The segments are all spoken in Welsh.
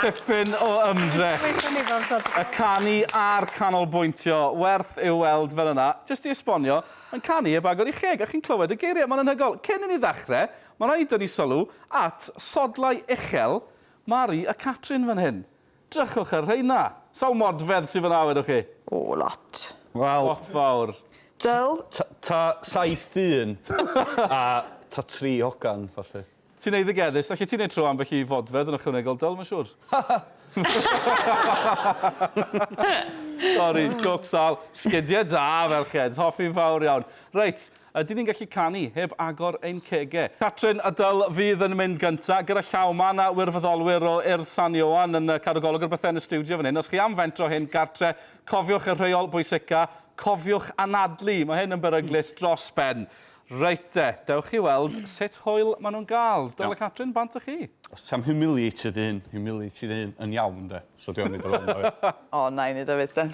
Tipyn o ymdrech. Gweithiwn ni bob tro. Y canu a'r canolbwyntio, werth i'w weld fel yna. Jyst i esbonio, mae'n canu heb agor ei cheg a chi'n clywed y geiriau, mae'n anhygoel. Cyn i ni ddechrau, mae'n rhaid i ni dynnu sylw at sodlau uchel Mari a Catrin fan hyn. Drychwch ar rheina. Sawl modfedd sydd fan'na wedwch chi? O, lot. Wel... Lot fawr. Dull? Ta saith dyn a ta tri hogan, falle. Ti'n eiddigeddus. Allet ti wneud tro ambell i fodfedd yn ychwanegol Dyl, mae'n siŵr. Sori, jôc sâl. Sgidiau da, ferched. Hoffi'n fawr iawn. Reit, ydyn ni'n gallu canu heb agor ein cegau? Catrin a Dyl fydd yn mynd gyntaf, gyda llaw. Mae 'na wirfoddolwyr o Urdd San Ioan yn cadw golwg ar bethau yn y stiwdio fan hyn. Os chi am fentro hyn gartre, cofiwch y rheol bwysica, cofiwch anadlu. Mae hyn yn beryglus dros ben. Reit de, dewch chi weld sut hwyl maen nhw'n gael. Dyla Catrin bant â chi. Os ti am humiliated dy hun, humiliate dy hun yn iawn de. So dwi am neud o fel 'na ie? O, wna i neud o 'fyd then.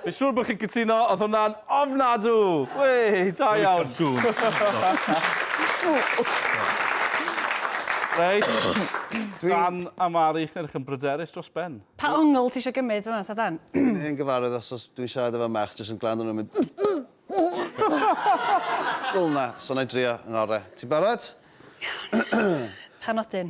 Fi'n siŵr bod chi'n cytuno, oedd hwnna'n ofnadw! Wê, da iawn. Reit, Dan a Mari, chi'n edrych yn bryderus dros ben. Pa ongl ti isio gymryd fan'na ta Dan? Dwi'n hen gyfarwydd os os dwi'n siarad efo merch jyst yn gwrando arno nhw'n mynd Fel 'na, so 'na i drio 'ngore. Ti'n barod? Iawn. Pa nodyn?